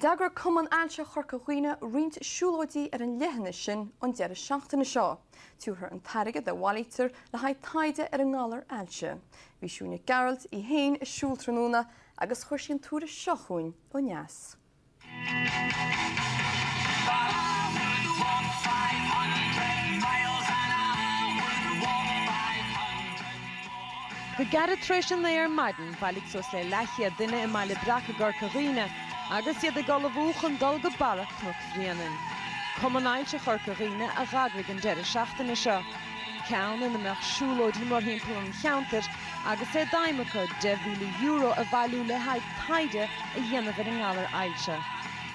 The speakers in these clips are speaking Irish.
D'eagraigh Cumann Ailse Chorca Dhuibhne roinnt siúlóidí ar an leithinis sin an deireadh seachtaine seo, tabharfar an t-airgead a bhailítear le haghaidh taighde ar an ngalar ailse. Bhí Siún Nic Gearailt í fhéin ag siúl tráthnóna agus chuir sí an tuairisc seo chugainn ó neas. Go gairid tar éis a naoi ar maidin, bhailigh suas le leathchéad duine i mBaile Breac i gCorca Dhuibhne agus iad ag ullmhú chun dul go barra Chnoc Bhréanainn. Cumann Ailse Chorca Dhuibhne a d'eagraigh an deireadh seachtaine seo, ceann ina mbeadh siúlóidí morthimpeall an cheantair agus é d'aidhm acu €10,000 a bhailiú le haghaidh taighde a dhéanamh ar an ngalar ailse.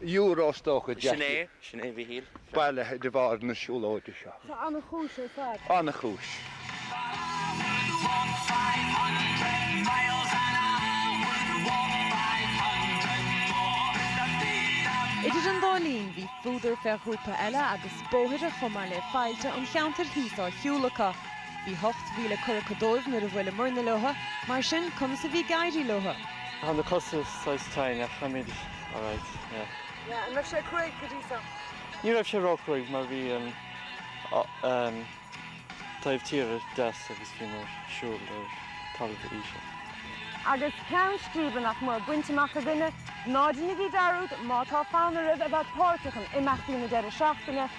euro is dócha deas. Sin é, sin é Mhichíl. bailithe de bharr na siúlóide seo. Tá an-chúis ar fad. An-chúis. Idir an dá linn, bhí fuadar fé ghrúpa eile agus bóithre chomh maith le faillte an cheantair thíos á shiúl acu. Bhí ocht mhíle curtha acu dóibh nuair a bhuaileamarna leo, mar sin conas a bhí ag éirí leo? Tá na cosa saghas tinn ach táimid alright, yeah. Yeah, an raibh sé cruaidh go dtí seo? Ní raibh sé ró-chruaidh mar bhí an taobh tíre deas agus bhíomar ag siúl ar talamh íseal. Agus ceann scríbe, nach mór, bainte amach againne, ná déanaigí dearúd, má tá fonn oraibh a bheith páirteach in imeachtaí na deireadh seachtaine,